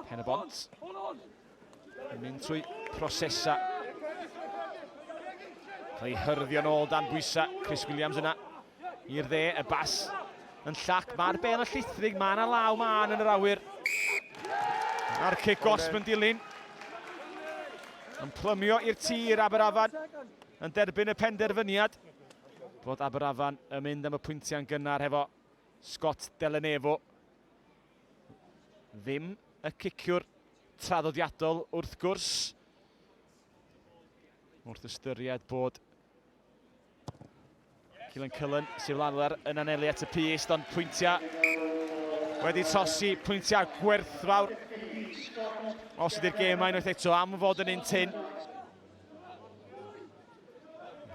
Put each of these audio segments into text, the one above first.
Pen y bont. Yn mynd trwy prosesa. Cael ei hyrddio nôl dan bwysa. Chris Williams yna. I'r dde, y bas yn llac. Mae'r ben yn llithrig. Mae yna law man yn yr awyr. A'r cic gosb yn dilyn. Yn plymio i'r tir Aberafan yn derbyn y penderfyniad bod Aberafan yn mynd am y pwyntiau'n gynnar hefo Scott Delenevo. Ddim y ciciwr traddodiadol wrth gwrs. Wrth ystyried bod Cillian Cullen, Syl Lanler yn anelu at y pist, ond pwyntiau wedi trosi, pwyntiau gwerthfawr. Os ydy'r gêm mae unwaith eto am fod yn un tyn.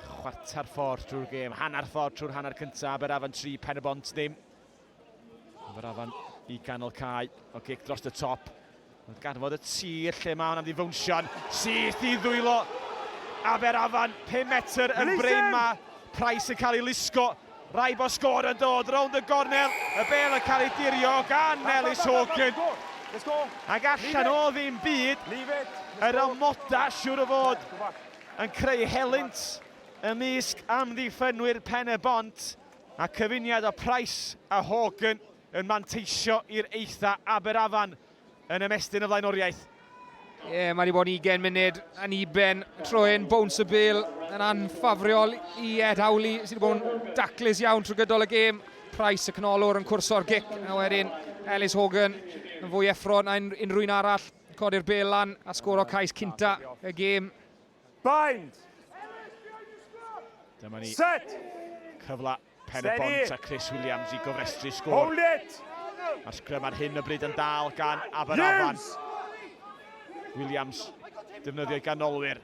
Chwarter ffordd drwy'r gêm, hanner ffordd trwy'r hanner cyntaf, Aberafan 3, Pen y Bont ddim. Aberafan i ganol cae, o gic dros y top. Ond ganfod y tir lle mae hwnna'n ddifownsio'n syth i ddwylo. Aberafan, 5 metr yn brein mae Price yn cael ei lusgo. Rhaid bod sgôr yn dod rownd y gornel, y bêl yn cael ei dirio gan Melys Hawken, ac allan o ddim byd, yr amodau siŵr o fod yn creu helynt ymysg amddiffynwyr Pen-y-bont, a cyfuniad o Price a Hawken yn manteisio i'r eitha' Aberafan yn ymestyn y flaenoriaeth. Ie, yeah, mae wedi bod yn 20 munud yn uben troi'n bowns y bil yn anffafriol i Ed Howley sydd wedi bod yn daclus iawn trwy gydol y gêm. Price y canolwr yn cwrso'r gic a wedyn Ellis Hogan yn fwy effro na unrhyw un arall. Codi'r bel lan a sgoro cais cynta y gêm. Bind! Dyma ni. Set! Cyfla pen y bont a Chris Williams i gofrestru sgôr. Hold it! Mae'r sgrym ar hyn y bryd yn dal gan Aberafan. Williams defnyddio i ganolwyr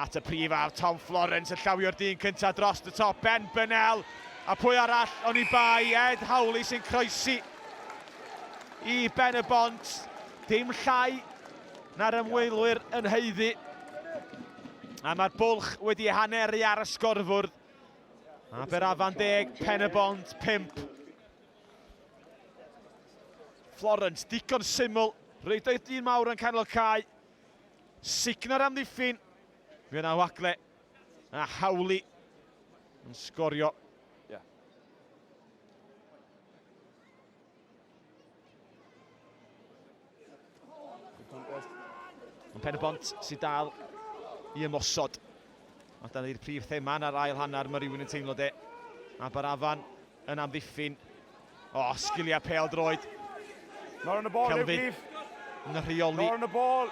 at y prif ar Tom Florence yn llawio'r dyn cyntaf dros y top. Ben Bennell a pwy arall o'n i bai Ed Howley sy'n croesi i ben y bont. Dim llai Na'r ymwelwyr yn haeddu. A mae'r bwlch wedi haneru ar y sgorfwrdd. Aberafan deg, Pen y Bont 5. Florence, digon syml, reidoedd dyn mawr yn canol cae. Signa'r amddiffyn, fe yna wagle a hawlu yn sgorio. Yn pen y bont sydd dal i ymosod. Mae dan i'r prif thema yn yr ail hanner, mae rhywun yn teimlo de. Aberafan yn amddiffyn. O, oh, sgiliau pel droed. Nor yn y bol, Kelvin. Yn y rheoli. Nor yn y bol.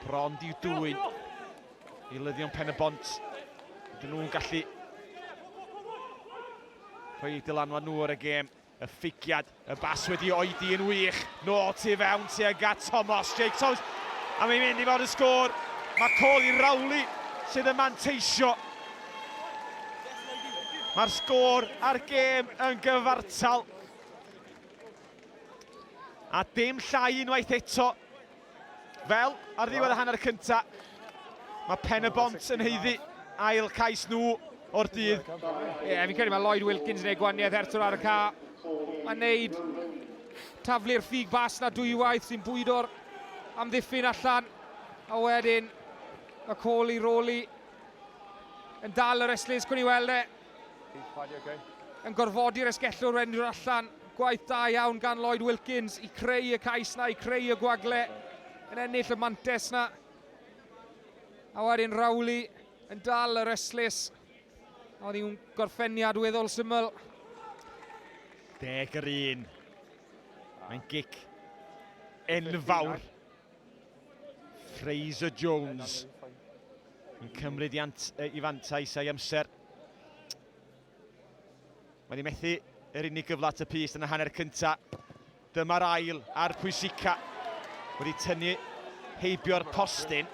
Bron diw dwy'n i lyddion pen y bont. Dyn nhw'n gallu rhoi dylanwad nhw ar y gêm. Y ffigiad, y bas wedi oedi yn wych, nôl tu fewn tuag at Tomos, Jake Tomos, a mae'n mynd i fod yn sgôr. Mae col i Rowley sydd yn manteisio. Mae'r sgôr a'r gêm yn gyfartal. A dim llai unwaith eto. Fel ar ddiwedd y hanner cynta, mae Pen y Bont yn heiddi ail cais nhw o'r dydd. Ie, yeah, fi'n credu mae Lloyd Wilkins yn ei gwaniaeth ertwr ar y ca. Mae'n neud taflu'r ffug bas na dwywaith sy'n bwydo'r amddiffyn allan. A wedyn, mae Coli Roli yn dal yr eslis, cwn i weld e. Yn gorfodi'r esgellwr wendio'r allan. Gwaith da iawn gan Lloyd Wilkins i creu y cais na, i creu y gwagle. Yn ennill y mantes na. A wedyn Rowley yn dal yr esllus. Oedd hi'n gorffeniad weddol syml. Deg yr un. Mae'n gic enfawr. Fraser Jones yn cymryd i, ant, i fantais a'i amser. Mae'n ei methu yr unig gyfle at y pys yn y hanner cyntaf. Dyma'r ail a'r pwysica wedi tynnu heibio'r postyn.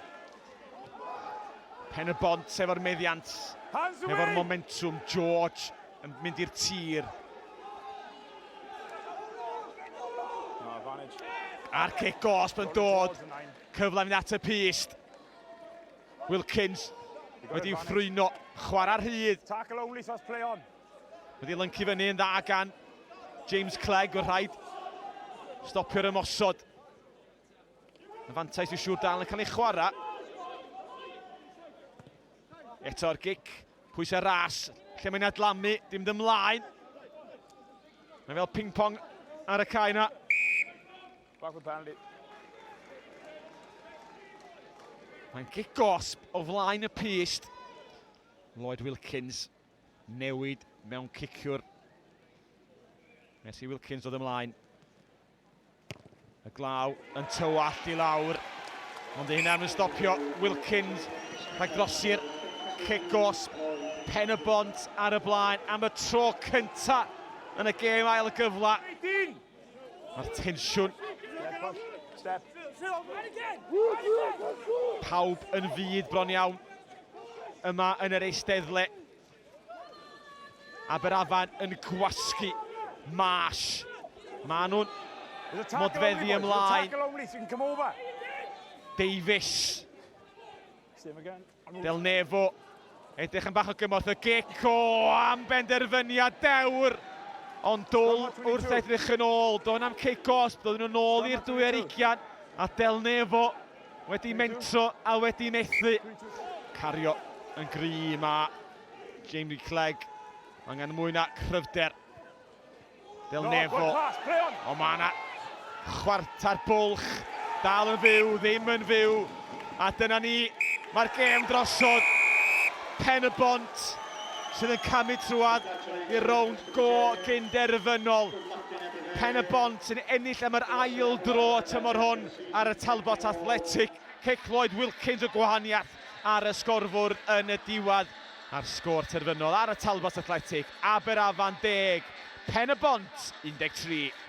Pen y bont efo'r meddiant, efo'r momentum, George Yn mynd i'r tir. A'r cic gosb yn dod. Cyfle mynd at y pist. Wilkins wedi'i ffrwyno. Chwarae rhydd. Tackle only, so play on. Wedi lyncu fyny yn dda gan James Clegg, o'r rhaid stopio'r ymosod. Y fantais yw siŵr dal yn cael ei chwarae. Eto'r gic, pwysau ras, lle mae'n adlamu, dim dymlaen. Mae fel ping-pong ar y cae yna. Mae'n gic gosb o flaen y pyst. Lloyd Wilkins newid mewn ciciwr. Nes i Wilkins dod ymlaen. Y glaw yn tywallt i lawr, ond ei hunan yn stopio Wilkins rhag drosi'r cic os pen y bont ar y blaen am y tro cynta yn y gêm ail y gyfla. Mae'r tensiwn pawb yn fyd bron iawn yma yn yr eisteddle. Aberafan yn gwasgu Marsh. Mae nhw'n modfeddu ymlaen. Davies. Del Nefo. Edrych yn bach o gymorth y Geco am benderfyniad dewr. Ond dwl wrth edrych yn ôl. Do'n am cic os, doedden nhw'n ôl i'r dwy ar ugian. A Del Nefo Wedi mentro a wedi methu. Cario yn gry ma Jamie Clegg. Angen mwy na cryfder. Del Nefo. O mae yna chwarter bwlch. Dal yn fyw, ddim yn fyw. A dyna ni, mae'r gêm drosodd. Pen y bont sydd yn camu trwad i'r rownd go gynderfynol. Pen y bont sy'n ennill am yr ail dro tymor hwn. ar y Talbot Athletic, cic Lloyd Wilkins y gwahaniaeth ar y sgorfwrdd yn y diwedd, a'r sgôr terfynol ar y Talbot Athletic, Aberafan 10, Pen-y-bont 13.